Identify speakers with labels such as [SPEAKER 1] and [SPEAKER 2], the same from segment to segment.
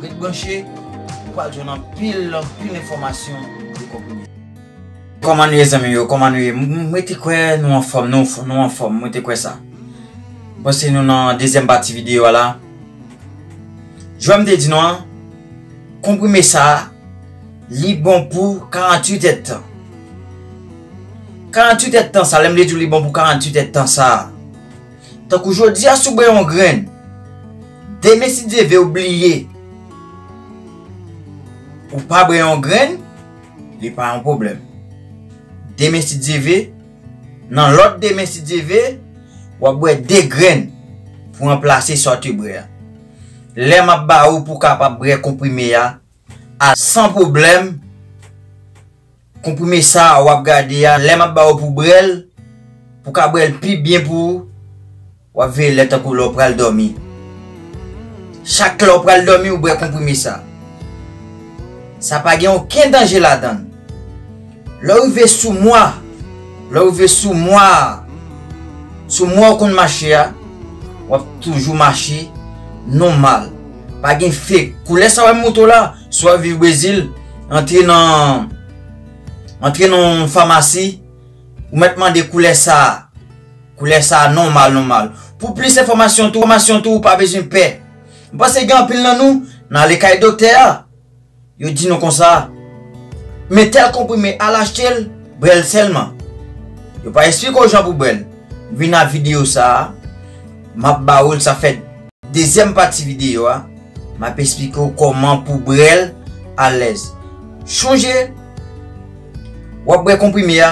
[SPEAKER 1] Ret branche, ou pral jwenn anpil, anpil enfòmasyon pou konprime. Kòman nou ye zanmim yo, kòman nou ye, mwen te kwè nou anfòm, nou anfòm, mwen te kwè sa. Bon se nou nan dezyèm pati videyo a la. Jwèm te di nou an, konprime sa, li bon pou 48 èd tan. 48 èd tan sa, lèm te di ou li bon pou 48 èd tan sa. Tankou jodia si w bwè yon grenn, demen si Dye ve w bliye pou w pa bwè yon grenn, li pa yon pwoblèm. Demen si Dye ve, nan lòt demen si Dye ve, w ap bwè 2 grenn pou ranplase sa w te bwè a. Lè m ap ba ou pou w kapab bwè konprime a san pwoblèm, Konprime sa wap gade a lè map ba ou pou brel pou ka brel pi byen pou ou wap veye lè tankou lè ou pral domi chak lè ou pral domi ou brè konprime sa sa pa gen oken danje ladann lè ou rive sou mwa lè ou rive sou mwa sou mwa ou konn mache a wap toujou mache nonmal pa gen fek koulè sa wap moutre w la. Si wap viv Brezil, antre nan antre nan yon famasi, ou mèt mande koulè sa, koulè sa nòmal nòmal. Pou plis enfòmasyon tou, enfòmasyon tou ou pa bezwen pè. M panse gen anpil nan nou, nan ale kay doktè a, yo di nou konsa, men tèl konprime al achte l, brè l sèlman. Yo pa esplike w jan pou bwè l. Vin nan videyo sa, map ba ou l sa fè. Dezyèm pati videyo a, m ap esplike w kòman pou w brèl alèz. Chonje, w ap bwè konprime a,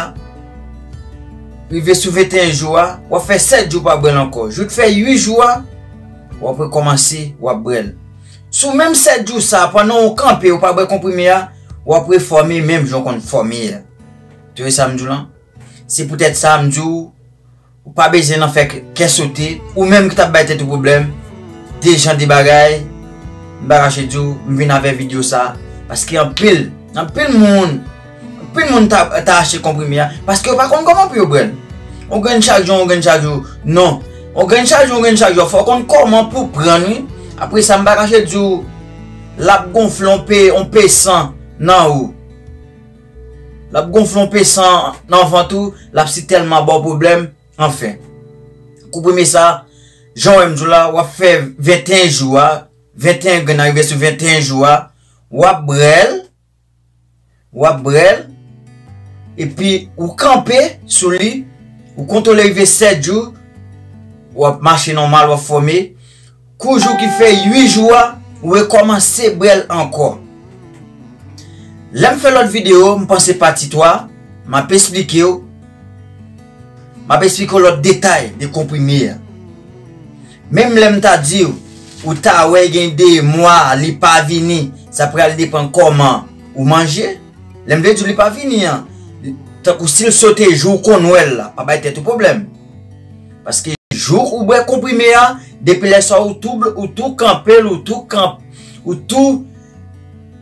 [SPEAKER 1] rive sou 21 jou a, w ap fè 7 jou w pa bwè l ankò. Jou t fè 8 jou a, w ap rekòmanse, w ap bwè l. Sou menm 7 jou sa a, pandan w kanpe, w pa bwè konprime a, w ap refòme menm jan w konn fòme a. Tande sa m di w lan? Se poutèt sa m di w. Ou pa bezyen nan fè kè sote ou menm ki tap bay tèt ou pwoblèm de jan de bagay m pa kache di w m vin avè video sa paske anpil anpil moun anpil moun ta achte konprime a paske yo pa konn kòman pou yo brè l on grenn chak jou on grenn chak jou non on grenn chak jou on grenn chak jou fò w konn kòman pou w pran l wi apre sa m pa kache di w lap gonfle on pe on pe san nan ou. Lap gonfle yon pe san nan vant ou, lap si telman baw pwoblem, anfen. Kou premye sa, janw wèm diw la, wap fè 21 jou a, 21 grenn nan rive sou 21 jou a, wap brel, wap brel, epi ou kanpe sou li, ou kontwole rive 7 jou, wap mache nòmal, wap fòme. Kou jou ki fè 8 jou a ou rekòmanse brèl ankò. Lèm fè lòt video m panse pati 3 map esplikew map esplikew lòt detay de konprime a. Menm lèm ta diw ou ta wè gen 2 mwa li pa vini sa pral depan kòman ou manje. Lèm vle diw li pa vini an tankou sil sote jou ou konn wèl la pa bay tèt ou pwoblèm. Paske jou ou bwè konprime a, depi lè sa ou tou ou tou kanpe l, ou tou kanp, ou tou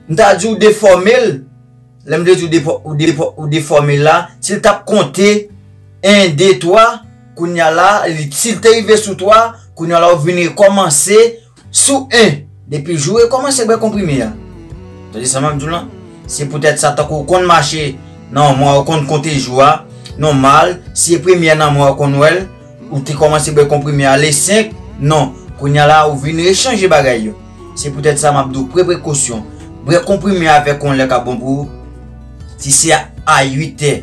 [SPEAKER 1] m ta di ou defòme l, lè m vle di ou defòme l la, si l t ap konte 1, 2, 3, kounya la, si l te rive sou 3, kounya la ou vin rekòmanse, Sou 1, depi jou e kòmanse bwè konprime a. Tande sa map diw lan? Se poutèt sa tankou ou konn mache nan yon mwa ou konn konte jou a, nòmal si e premye a nan mwa ou konn wèl, ou te kòmanse bwè konprime a le 5, non, kounya la ou vin rechanje bagay yo. Se poutèt sa map diw pre prekosyon, bwè konprime a vè konlè ka bon pou ou. Si se a 8 è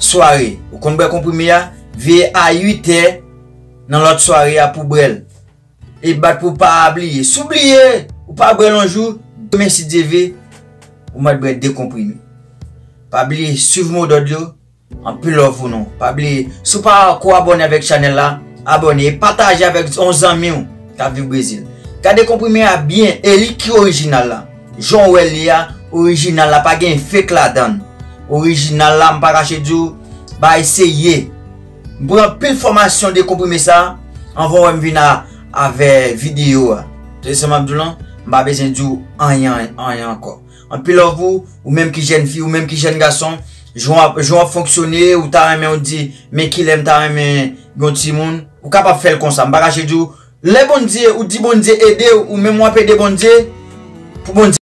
[SPEAKER 1] sware ou konn bwè konprime a, veye a 8 è nan lòt sware a pou bwèl. E bat pou pa bliye. Si w bliye, ou pa bwè l yon jou, demen si Dye vle, ou mèt bwè 2 konprime. Pa bliye swiv modòd yo, anpil love pou nou. Pa bliye, si w pa ko abòne avèk chanèl la, abòne e pataje avèk yon zanmi w k ap viv Brezil. Gade konprime a byen e li ki orijinal la. Jan w wè l li a, orijinal la pa gen fake ladan l. Orijinal la m pa kache di w, bagay serye. M pran anpil fòmasyon de konprime sa anvan wè m vin avè videyo a. Tande sa map diw lan, m pa bezwen diw anyen anyen ankò. Anpil love pou ou menm ki jèn fi, ou menm ki jèn gason, jan wap fonksyone ou ta renmen ou di men kilè m ta renmen gen yon timoun, ou kapab fèl konsa, m pa kache diw lè Bondye ou di Bondye edew ou menm wap ede Bondye pou Bondye.